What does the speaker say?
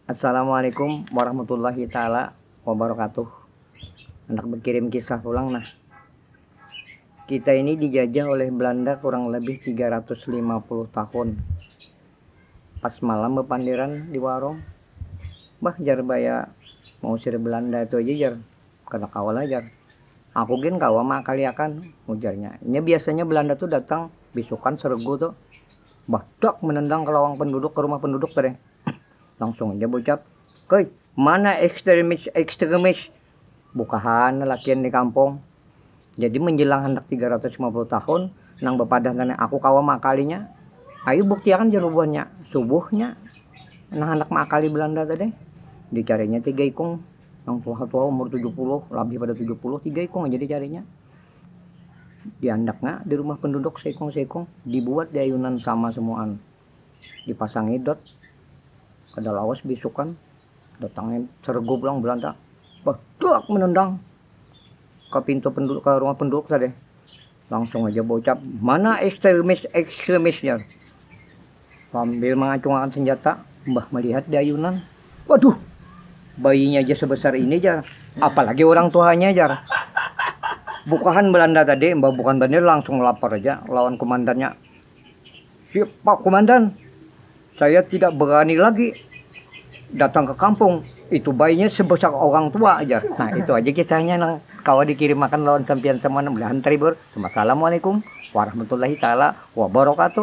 Assalamualaikum warahmatullahi taala wabarakatuh. Anak berkirim kisah pulang nah. Kita ini dijajah oleh Belanda kurang lebih 350 tahun. Pas malam bepanderan di warung, bah jar baya mausir Belanda itu aja jar, kada kawa lah jar. Aku gin kawa maakaliakan, ujarnya. Nya biasanya Belanda tu datang bisukan seregu tu. Badak menendang ke lawang penduduk, ke rumah penduduk tadi. Langsung aja berucap, Hei, mana ekstremis-ekstremis? Bukahan lelakian di kampung. Jadi menjelang handak 350 tahun, nang bepadah tadi, aku kawa meakalinya. Ayu buktiakan jar bubuhannya. Subuhnya, nang handak meakali Belanda tadi, dicarinya tiga ikung. Nang tuha-tuha umur 70, labih pada 70, tiga ikung aja dicarinya. Diandaknya di rumah penduduk seikung-seikung dibuat di ayunan sama semuaan. Dipasangi dot, kada lawas bisukan datangnya seregu pulang Belanda, bah duak menendang ka pintu penduduk ka rumah penduduk tadi. Langsung haja baucap, mana ekstremis-ekstremis jar. Sambil mangacungakan senjata, Mbah melihat di ayunan. Waduh, bayinya ja sebesar ini jar, apalagi urang tuhanya jar. Bukahan Belanda tadi, Mbah Bukan Bandir langsung lapor aja lawan kumandannya. Siap, Pak Kumandan, saya tidak berani lagi datang ke kampung, itu bayinya sebesar orang tua aja. Nah, itu aja kisahnya nang kawa dikirimakan lawan sampiyan semua nang belahan Tribur. Wassalamualaikum warahmatullahi taala wabarakatuh.